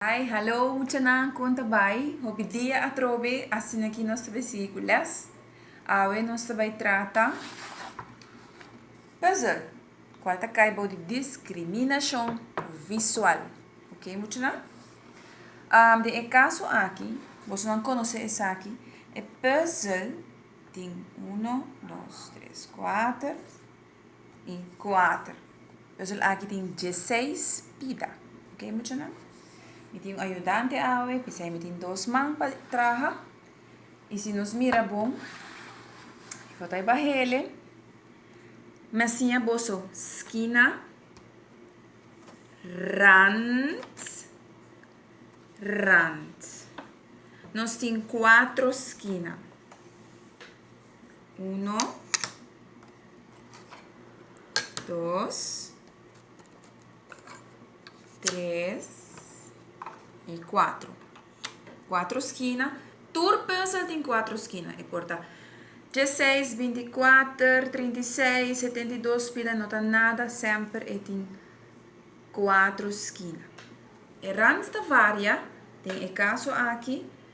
Hi, hallo muchanan kon ta bai? Hopi dia atrobe asina ki nos ta bai sigui ku les. Awe nos ta bai trata puzzle kual ta kai bou di diskriminashon visual. Ok muchanan? Um, den e kaso aki, bosonan konosé esaki, e puzzle tin uno, dos, tres, kuater. y cuater. Pues el aki tin dieseis pida. Ok, muchanan? Mi tin un ayudante awe, pesai mi tin dos man pa traha. Y si nos mira bon, foto ay ba hele. Me siña boso skina, rand, rand. Nos tin cuatro skina. Uno. Dos. Tres. I kuatro. Kuatro skina. Tur pensel tin kuatro skina. E por ta treseis, bintikuater, trintiseis, setendidos, pida no ta nada. Semper e tin kuatro skina. E rand ta varia. Den e kaso aki.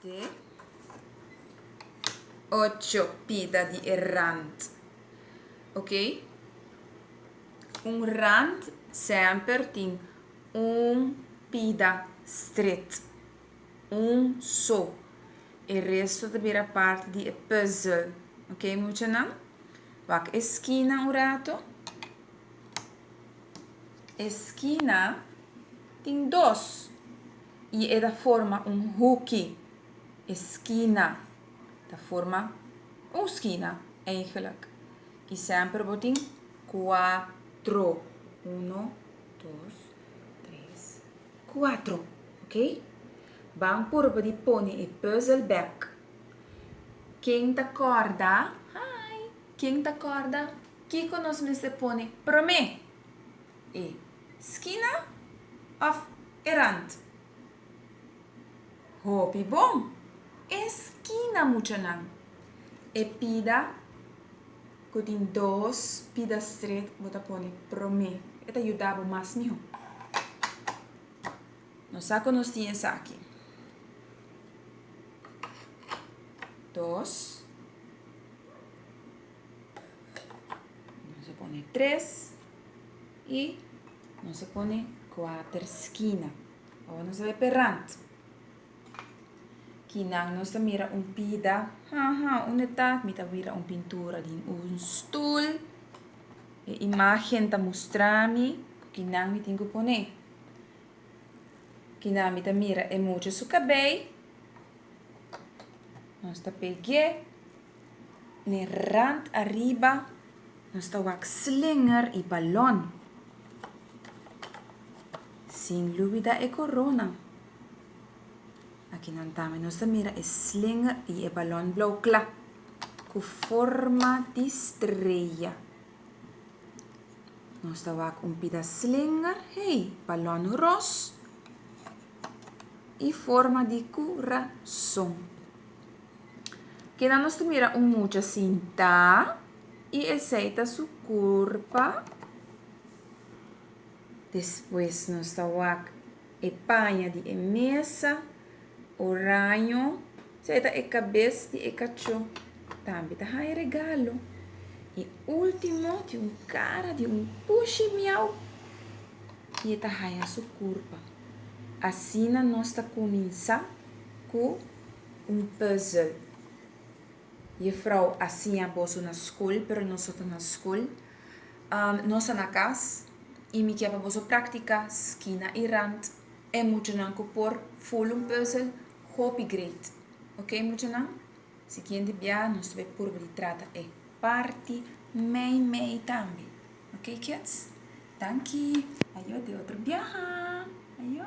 Te ocho pida di e rand. Ok? Un rand semper tin un pida stret. Un so. E resto ta bira parti di e puzzel. Ok muchanan? Wak e skina un rato. E skina tin dos. Y e ta forma un hoekie, esquina, ta forma un skina eigenlijk. Y semper bo tin cuatro, uno, dos, tres, cuatro, ok? Ban purba di pone e puzzel bek. Ken ta corda, hi, ken ta corda kiko nos mester pone prome? E skina of e rand? Hopi bon! E skina muchanan. E pida ku tin dos pida stret bo ta pone prome e ta yuda bo mas miho. Nos sa ku nos tin esaki. Dos. Nos a pone tres. y nos a pone kuater skina awa nos a bai pe rant kinan nos ta mira un pida haha unde ta mi ta mira un pintura di un stul e imagen ta mustrami cu kinan mi tin cu pone kinan mi ta mira e mucha su cabei nos ta pegu'e. N'e rand ariba nos ta wak slinger y balon. Sin lubida e corona. Aki nan tambe nos ta mira e slinger y e balon blauw cla cu forma di streya. Nos ta wak un pida slinger, hey, balon ros y forma di curason. Kina nos ta mira un mucha sintá y esei ta su curpa. Despues nos ta wak e paña di e mesa, oraño, sei ta e cabes di e cachó. Tambe ta haña regalo. E ultimo tin un cara di un pushi miau y e ta haña su curpa. Asina nos ta cuminsá cu. Un puzzle. Jefrouw, A siña boso na skol, pero nos no ta na skol. Am, Nos ta na kas, i mi kier pa boso praktika skina i rant. E muchanan ku por ful un puzzle, hopi great. Oké, muchanan? Siguiente bia nos ta bai purba di trata e parti mei mei tambe. Oké, kids? Danki. Ayo, den otro biaha. Ayo.